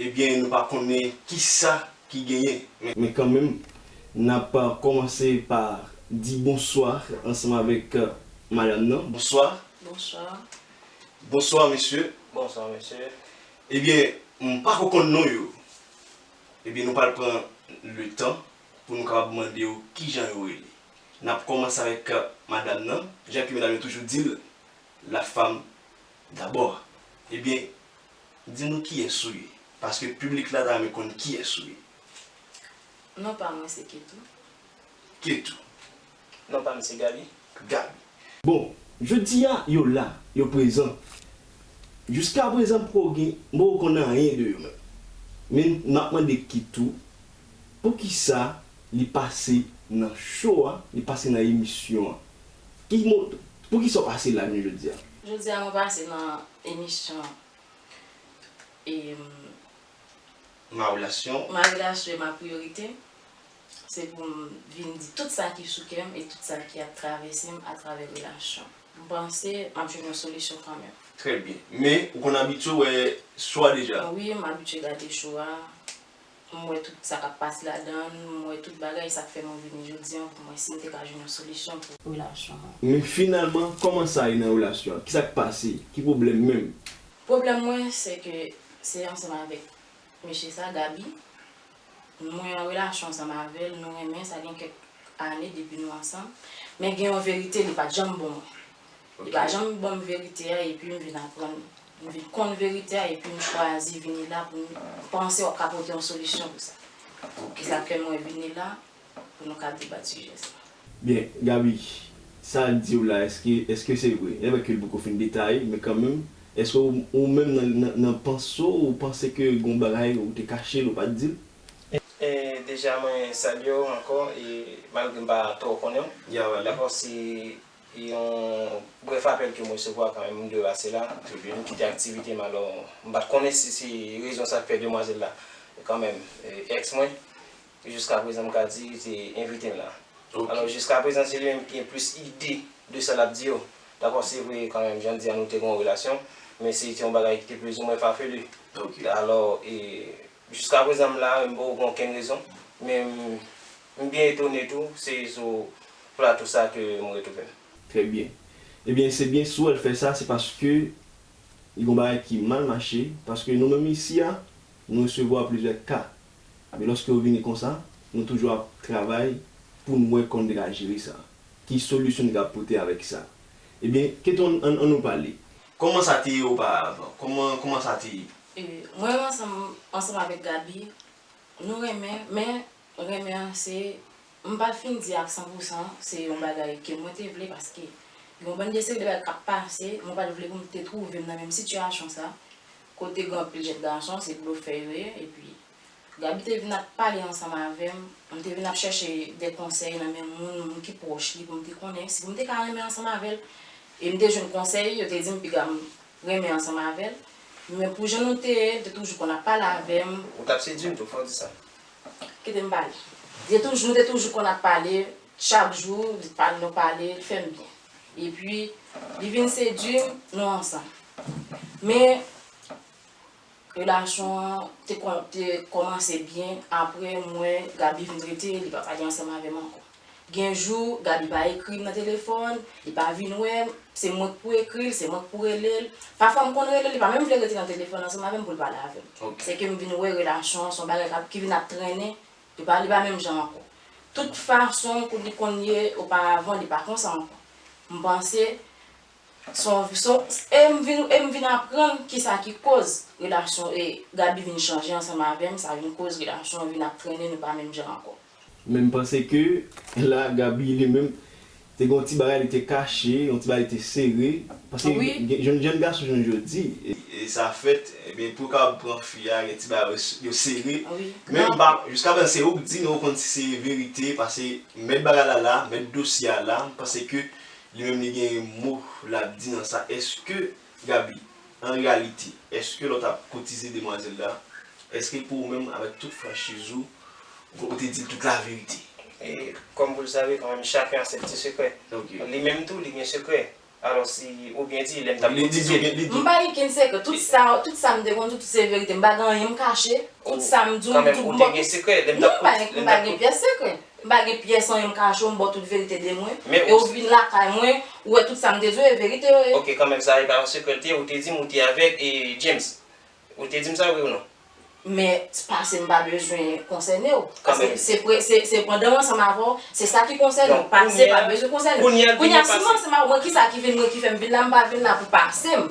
Ebyen nou pa konnen kisa ki genyen men. Men kanmenm nap komanse pa di bonswa ansanm avek madam nan. Bonswa. Bonswa. Bonswa mesye. Bonswa mesye. Ebyen m pako konn non yo. Ebyen nou pral pran le tan pou nou kapab mande yo kijan yo rele. Nap komanse avek madam nan, jan ke medam yo toujou dil la femme d'abord. Ebyen. Di nou kiyès ou ye. Paske piblik la ta renmen konn kiyès ou ye. Non pa mwen se Ketou. Ketou. Non pa m se Gaby. Gaby. Bon, jodi a, yo la, yo prezan. Jiskaprezan m poko gen, m poko konn anyen de yo menm. Men, m ap mande Ketou, poukisa li pase nan show a, li pase nan emisyon an. Pou kisa ou pase la menm jodi a? Jodi a mwen pase nan emisyon e. Ma relasyon. Ma relasyon e ma priyorite. Se pou m vin di tout sa ki sou kè m e tout sa ki ap travèse m atravè relasyon. M panse m ap jwenn yon solisyon kanmenm. Trè byen. Men, ou konn abitye wè cho a deja? Wi, m abitye gade cho a. M wè tout sa k ap pase ladan l. M wè tout bagay. Sa k fè mwen vini jodi an pou m wè si m te ka jwenn yon solisyon pou relasyon an. Men finalman, kòman sa ye nan relasyon an? Ki sa k pase? Ki pwoblèm menm? Pwoblèm mwen se ke se ansanm avèk mesye sa, Gaby. Mwen an relasyon ansanm avè l. Nou renmen. Sa gen kèk ane depi nou ansanm. Men gen yon verite li pa t janm bon mwen. Li pa janm ban m verite a epi m vin aprann, m vin konn verite a epi m chwazi vini la pou m panse w ap ka pote yon solisyon pou sa. Se sa k fè mwen vini la pou nou ka debat sijè sa. Byen, Gaby, sa l di w la èske èske se vre? N ap wè ke l poko fin detaye men kanmenm èske w ou menm nan nan nan panse w ou panse ke gen yon bagay ou te kache l ou pa t di l? Deja mwen salye w ankò e malgre m pa twò konnen w, dakò si Yon brèf apèl ke m resevwa kan menm de Rase la, Tribune, kite aktivite m alò m pa t konnen si se rezon sa k fè demwazèl la kan menm ex mwen, jiska prezan m ka di li te envite m la. Alò jiska prezan se li menm ki gen plis ide de sa l ap di yo. Dakò se vre kan menm jan l di a nou te gen yon relasyon, men se te yon bagay ki te plizoumwen fafelu. Alò jiska prezan m la menm m poko gen okenn rezon, men m M byen etone tou, se sou plato sa ke m retrouve m. Trè byen. Ebyen se byen si w wè l fè sa se paske li gon bagay ki mal mache, paske nou menm isi a nou resevwa plizyè ka, epi lòske yo vini konsa nou toujou ap travay pou n wè kòman nou te ka jere sa, ki solisyon nou te ka pote avèk sa. Ebyen Ketton an nou pale. Kòman sa te ye oparavan? Kòman kòman sa te ye? Mwen ansanm ansanm avèk Gaby nou renmen men Renmen an se, m pa fin di ak san pou san, se yon bagay ke mwen te vle paske gen yon bann de seri de bagay k ap pase, mwen pa t vle pou m te twouve m nan menm sitiyasyon sa, kote gen anpil jèn gason se blofè yo ye, epi Gaby te vin ap pale ansanm avè m, m te vin ap chèche de konsèy nan men moun, moun ki pwòch li pou m te konnen, si pou m te ka renmen ansanm avè l, e m te jwenn konsèy, yo te di m piga m renmen ansanm avè l, men pou jan nou te ye, li te toujou konn ap pale avè m. Ou t ap sedui m tou, fò w di sa. Kite m pale. Li te toujou, nou te toujou konn ap pale chak jou, li pale nou pale, li fè m byen. Epi li vin sedui m, nou ansanm. Men relasyon an te kòmanse byen, aprè mwen Gaby vin trete li pa pale ansanm avè m ankò. Gen jou, Gaby pa ekri m nan telefòn, li pa vin wè m, se mwen k pou ekri l, se mwen k pou rele l. Pafwa m konn rele l, li pa menm vle rete nan telefòn ansanm avè m pou l pale avè m. Se ke m vin wè relasyon an se yon bagay ki vin ap trennen, li pa li pa menm jan ankò. Tout fason m kou li konn ye oparavan li pa konsa ankò. M panse se yon se yon e m vin e m vin aprann kisa ki koz relasyon e Gaby vin chanje ansanm avè m, sa vin koz relasyon an vin ap trennen nou pa menm jan ankò. Men m panse ke la Gaby li menm te gen yon ti bagay li te kache, yon ti bagay li te sere. Paske gen jenn gason jounen jodi. Sa fèt, ebyen pou yo kapab pran fi a gen ti bagay yo sere. Men m pa, jiska prezan se ou k di men ou konn si se verite pase mèt bagay la la, mèt dosye a la, m panse ke li menm li gen mo l ap di nan sa. Eske. Gaby, An reyalite, èske lè w t ap kotize demwazèl la, èske pou ou menm, avèk tout franchiz ou, ou te di l tout laverite? E, kòm vou l save, kanmenm chaken a sèt ti sekrè. Ok. Li menm tou, li gen sekrè. Alò si ou byen di, lè m t ap Li di kotize l. li di. M pa gen kenn sekrè. Tout sa, tout sa m te konn di w, tout se verite. M pa gen anyen m kache. Tout sa m di w, m di w. Kanmenm ou te gen sekrè lè m t ap kotize l. Non, m pa gen pyès sekrè. M pa gen pyès anyen m ka cho m ba w tout verite de mwen, e ou vin lakay mwen, ou wè tout sa m te di w e verite yo ye. Ok kanmenm sa e pa yon sekrè l te ye, ou te di m ou te avèg e James, ou te di m sa wi ou non? Men s pase m pa bezwen konsène w, paske se pre se se pandan m ansanm avè w se sa ki konsène w, pase pa bezwen konsène w, kounya si m ansanm avè w mwen kisa ki vin mwen ki fè m vin la m pa vin la pou pase m.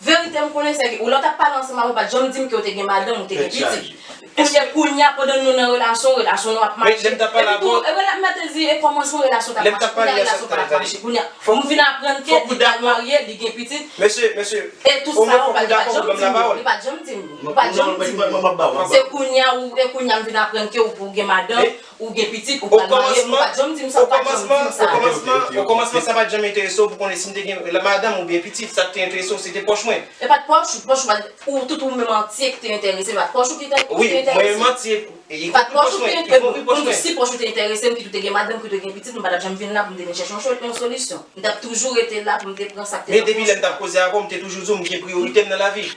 Verite m konnen sèke ou lè w t ap pale ansanm avè m ou pa t janm di m ke w te gen madanm ou te gen pitit. Eske kounya pandan nou nan relasyon, relasyon nou ap mache? Epi tou, rela, m ta te di e kòmansman relasyon ta ap mache, kounya relasyon pa ap mache. Kounya m vin aprann ke li pral marye, li gen pitit. E tout sa ou pa t janm di m yo. Li pa t janm di m yo. Li pa t janm di m yo. Se kounya ou, e kounya m vin aprann ke ou gen madanm. Ou gen pitit, ou pral marye, ou pat janm di m sa, ou pat janm di m sa. O komansman sa pat janm enterese w pou konnen si m te gen madanm oubyen pitit, sa k te enterese w se te pòch mwen. E pat pòch ou, pòch ou pat, ou tout ou menm antye k te enterese m, pat pòch ou ki te enterese m. Wi, mwen menm antye, y konpri pòch mwen, y konpri pòch mwen. Si pòch ou te enterese m, kit ou te gen madanm, kit ou te gen pitit, m pa tap janm vin la pou m te vin chèche yon solisyon. M tap toujou rete la pou m te pran sa k te nan pòch ou. Men depi lè m tap koze avè w, m te toujou di w m gen priyorite m nan lavi.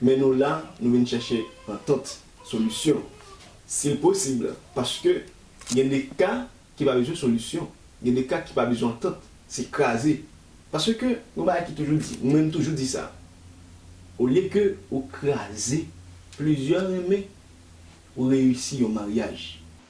Men nou la, nou vin chèche antant, solisyon, si l posib, paske gen de ka ki pa bezwen solisyon, gen de ka ki pa bezwen antant, se kraze. Paske gen yon bagay ki toujou di, mwen menm m toujou di sa, olye ke ou kraze plizyè renmen, ou reyisi yon maryaj.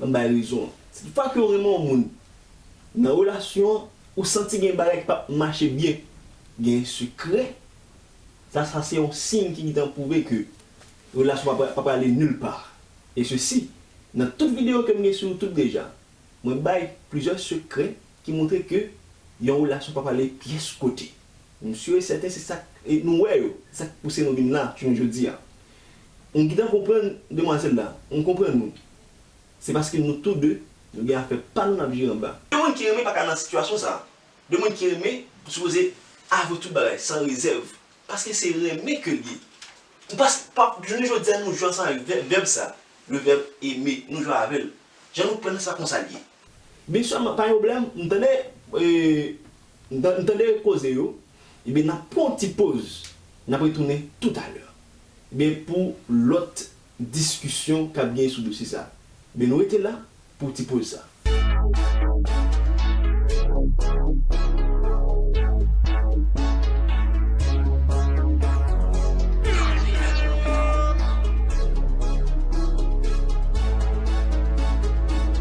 An m bay rezon an. Tout fwa ke w renmen yon moun, nan relasyon an, ou santi gen bagay ki pap mache byen, gen sekrè, sa sa se yon siy ki gintan pwouve ke relasyon an pa prale nul part. E sesi, nan tout videyo ke m gen sou YouTube deja, mwen bay plizyè sekrè ki montre ke yon relasyon pa prale pyès kote. M sur e sèten se sak nou wè yo, se sak pouse nou vin la jounen jodi a. M gintan konprann demwazèl la, m konprann wi. Se paske nou tou de, nou gen afè pa nou n ap jere anba. De moun ki renmen pa ka nan sitiyasyon sa. De moun ki renmen sipoze avwe tout bagay san rezèv, paske se renmen ke l ye. M pa pa jounen jodi a nou jwe ansanm avèk vèb sa, le verbe aimer, nou jwe avè l. Jan nou pran sa konsa l ye. Big sè m pa gen pwoblèm m tande m tande koze yo ebyen n ap pran yon ti poz n ap retounen toutalè ebyen pou lòt diskisyon k ap gen sou dosye sa ebyen nou rete la pou ti poz sa.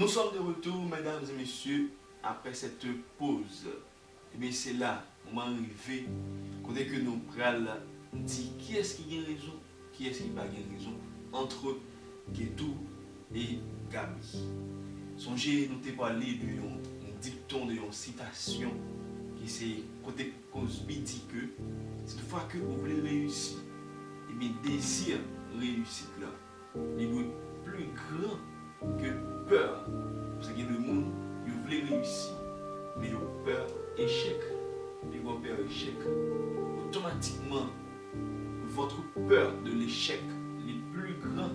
Nou sòm de retou medam e mesye aprè sète poz ebyen se la moman an rive kote ke nou pral di kiyès ki gen rezon kiyès ki pa gen rezon antre Getou e Gaby sonje nou te pale de yon dikton de yon sitasyon ki se kote Cosby di ke, Toutoufwa ke ou vle reyisi, ebyen dezi reyisit lan, li dwe pli gran ke pè an. Paske gen de moun, yo vle reyisi, men yo pè echèk. Pi gwo pè echèk. Otomatikman, votre peur de l'échec li pli gran.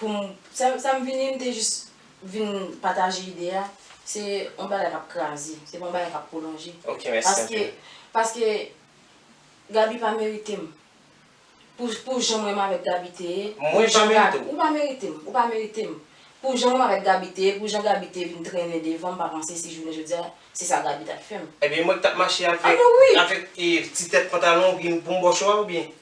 Pou m, sa, sa m vini, m te jis vin pataje ide a, se yon bagay k ap kraze, se pa yon bagay k ap pwolonje. Ok, mèsi anpil. Paske, paske Gaby pa merite m. Pou, pou jan mwen menm avèk Gaby te ye. Mwen pa menm tou. Ou pa merite m, ou pa merite m. Pou jan mwen menm avèk Gaby te ye, pou jan Gaby te vin trennen devan m, m pa panse si jounen jodi a, se sa Gaby t ap fè m. Ebyen mwen k t ap mache avèk, avèk ti tèt pantalon ou byen boum bòcho a oubyen?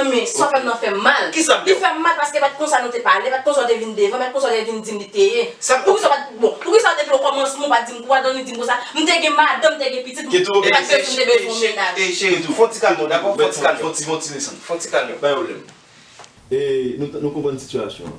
Anmweyy sa w fè m nan fè m mal. Kisa m fè w? Li fè m mal paske pa t konsa nou te pale, pa t konsa w te vin devan, pa t konsa w te vin di m li te ye. Sa m ofè w? Bon, poukisa w depi okòmansman w pa t di m kwa dan li di m konsa, m te gen madanm, m te gen pitit, m te pa t bezwen m te bezwen yon mennaj. Ey cheri tou, fon ti kalme w dakò, fon ti kalme w, fon ti desant, fon ti kalme w, pa gen pwoblèm. Ey nou konprann sitiyasyon an.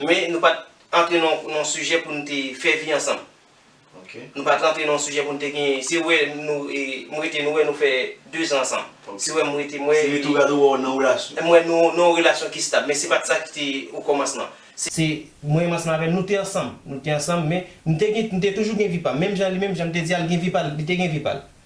Men nou pat antre nan yon sijè pou nou te fè vi ansanm. Nou pat rantre nan yon sijè pou nou te gen, si ou wè nou m rete nou wè nou fè 2 zan ansanm. Si ou wè m rete m wè. Si rete ou gade ou wè ou nan yon relasyon. M wè nou nan yon relasyon ki stab men se pat sa ki te okomansman. Se mwen menm ansanm avè l nou te ansanm, nou te ansanm men m te gen, m te toujou gen vi pa m. Menm jan li menm jan m te di a l gen vi pa l, li te gen vi pa l.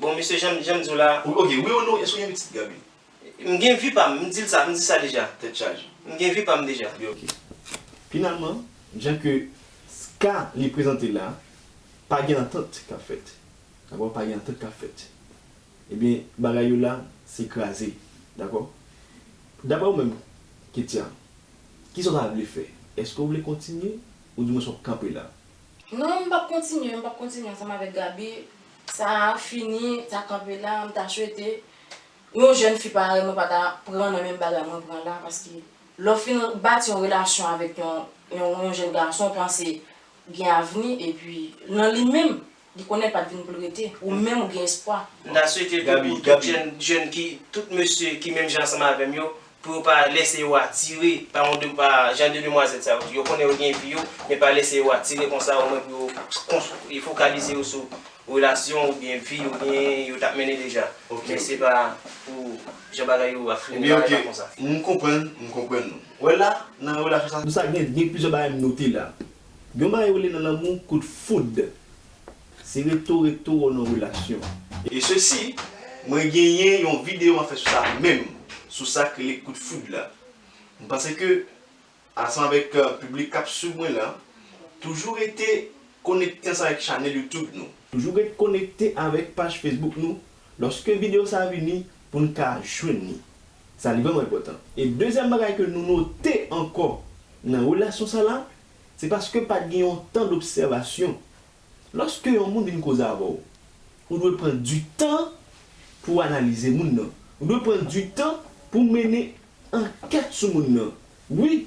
Bon mesye janm janm diw la. Ou ok wi ou nou eske ou gen pitit gaby. M gen vi pam m dil sa m di sa deja. Tèt chaje. M gen vi pam deja. Li ok. Finalman jan ke ska li prezante la pa gen antant kap fèt dakò pa gen antant kap fèt ebyen bagay yo la se kraze dakò daprè ou menm ketya kisa ou ta vle fè eske ou vle kontinye ou di mwens wap kanpe la. Non m pap kontinye m pap kontinye ansanm avèk gaby Sa a fini, ta kanpe la, m ta swete yon jèn fi parèy mwen pa ta pran nan menm bagay mwen pran la paske lè w fin bati yon relasyon avèk yon jèn gason w panse gen avni epi nan li menm li konnen l pa t vin pou l rete ou menm ou gen espwa. M ta swete tou pou tout jèn ki tout mesye ki menm jan ansanm avè m yo pou yo pa lèse yo atire pa yon de pa jan de demwazèl sa yo, yo konnen yo gen vi yo men pa lèse yo atire konsa o mwen pou yo konstwi fokalize yo sou relasyon ou byen vi yo genyen yo tap mennen deja men se pa pou jan bagay yo ap fini bagay pa konsa. M konprann, m konprann nou. Wè la, nan relasyon sa. Pou sa gen gen plizyè bagay m note la. Gen yon bagay yo rele nan lanmou kout foud. Se reto reto ou nan relasyon. E sesi, mwen genyen yon video map fè sou sa menm, sou sak rele kout foud la. M panse ke ansanm avèk piblik kap swiv mwen la, toujou rete konekte ansanm avèk chanèl YouTube nou. Toujou rete konekte avèk paj Facebook nou lòske video sa vini poun ka jwenn li. Sa li vrèman enpòtan. E dezyèm bagay ke nou note ankò nan relasyon sa la, se paske pat gen yon tan d'obsèvasyon Lòske yon moun vin koze avè w, ou dwe pran di tan pou w analize moun nan. Ou dwe pran di tan pou w mennen ankèt sou moun nan. Wi,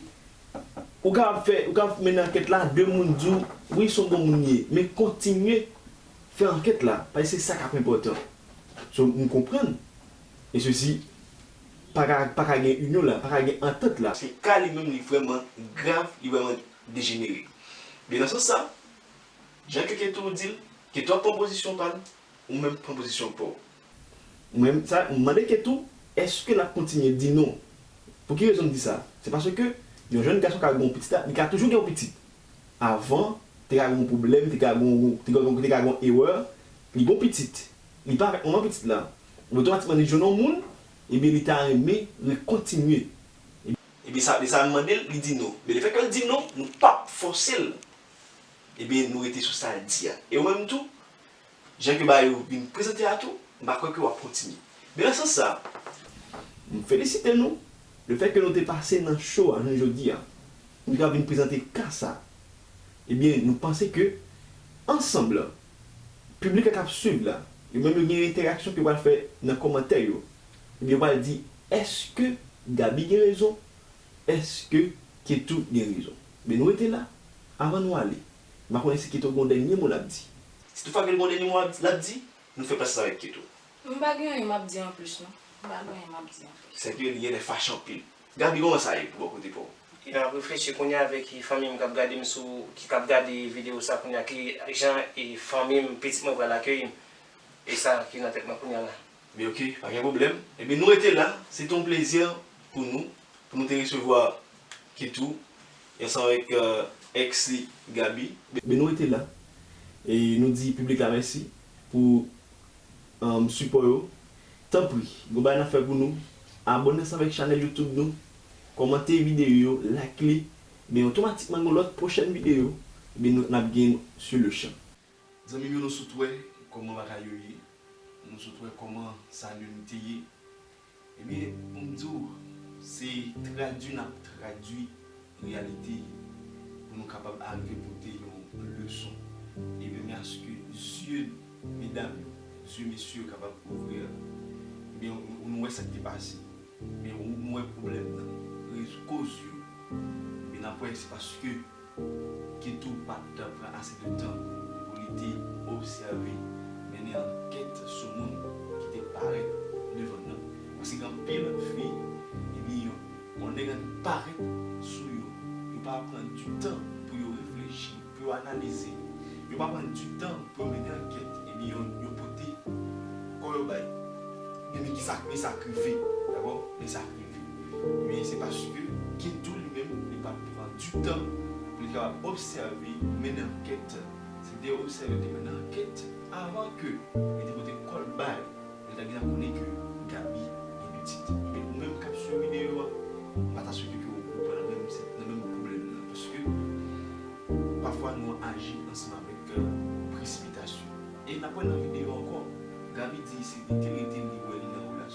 ou kapab fè, ou kapab mennen ankèt la, de moun di w, wi son bon moun li ye. Men kontinye fè ankèt la, paske se sa k ap enpòtan. So, nou konprann, e sesi, pa ka, pa ka gen inyon la, pa ka gen antant la. Paske ka li menm li vrèman grav, li vrèman dejenere. Men nan sans sa, Jan keke toujou di l, keke ap pran pozisyon pa l, ou menm pran pozisyon pa w. Mwen mande Ketou èske l ap kontinye di non. Pou ki rezon m di sa? Se paske yon jèn gason ka gen yon pitit, li ka toujou gen yon pitit. Avan, te ka gen yon pwoblèm, te ka gen yon erè, li gen yon pitit, li pa avèk manman pitit la, epi otomatikman li jwenn yon moun, ebyen li ta renmen rekontinye. Ebyen sa vle sa, m mande l, li di non. Men lefètke l di non, nou p ap fòse l Ebyen nou rete sou sa l di a. E ou menm tou, jan ke bagay yo vin prezante a tou, m pa kwè ke w ap kontinye. Men nan sans sa, m felisite nou le fèt ke nou te pase nan show a jounen jodi a. Nou ka vin prezante ka sa. Ebyen nou panse ke ansanm lan, piblik la k ap swiv la, yo menm yo gen entèraksyon ke yo pral fè nan kòmantè yo. Ebyen yo pral di, èske Gaby gen rezon Eske ketou gen rezon. Byn rete la avan nou ale m pa konnen si keto gon dènye mo lap di. Si tou fagel gon dènye mo lap di nou fè plas la avèk keto. M pa gen anyen map di anplis non m pa gen anyen map di anplis. Sèke li genlè fache anpil. Gaby koman sa ye pou bò kote paw. Epi map reflechi kounya avèk fanmim kap gadem sou ki kap gade video sa kounya ki jan fanmim pitit mwen pral akeyim esa ki nan tèt mwen kounya la. Li ok, pa gen pwoblèm. Ebyen nou rete la, se te yon plezi pou nou, pou nou te resevwa Kit ou ansanm avèk ex li Gaby. Ebyen nou rete la, e nou di piblik la mèsi pou sipò yo. Tanpri, gon bagay n ap fè pou nou, abòne ansanm avèk chanèl YouTube nou, kòmante videyo yo, like li, ebyen otomatikman gon lòt pwochèn videyo ebyen n ap gen sou le chan. Zanmim yo nou sot wè kòman bagay yo ye, nou sot wè kòman Salim te ye, ebyen poum diw se tradwi nap tradwi reyalite pou nou kapab arive pote yon leson, ebyen men aske zye medam yo, zye mesye yo kapab ouvri, ebyen nou wè sak te pase, ebyen nou wè pwoblèm nan, koz yo, ebyen nap wè se paske. Keto pa t pran ase de tan pou li te obsève, mennen ankèt sou moun ki te parèt devan l nan. Paske gen anpil fi, ebyen yo, bon nèg an parèt sou yo, yo pa pran di tan pou yo reflechi, pou yo analize, yo pa pran di tan pou yo mennen ankèt, ebyen yo, yo pote kò yo bay. Ebyen men kisa, men sa k rive, dakò, men sa k rive. Men se paske Geto li menm li pa t pran di tan pou li kapab obsève mennen ankèt. Se li te obsève, li te mennen ankèt avan ke li te pote kò l bay lè l ta gentan konnen ke Gaby gen pitit. Ebyen ou menm k ap swiv videyo a, m pa ta swete ke ou pran nan menm sit, nan menm pwoblèm nan. Paske pafwa nou aji ansanm avèk presipitasyon. E n ap wè nan videyo ankò, Gaby di isit li te rete li wè li nan relasyon.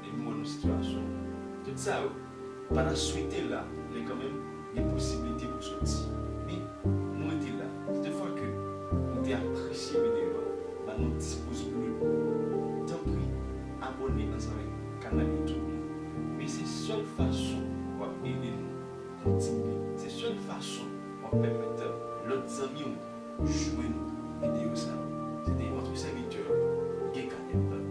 Depi mwen nan sitiyasyon tout sa yo pa ta swete la men kanmenm gen posibilite pou soti men m rete la se te fwa ke nou te apresye videyo a ba nou 10 pouz ble tanpri abòne ansanm avèk kanal youtube nou men se sèl fason wap ede nou kontinye se sèl fason wap pèmèt lòt zanmi w jwenn videyo sa yo se te vòtre sèvitè Guy Canel.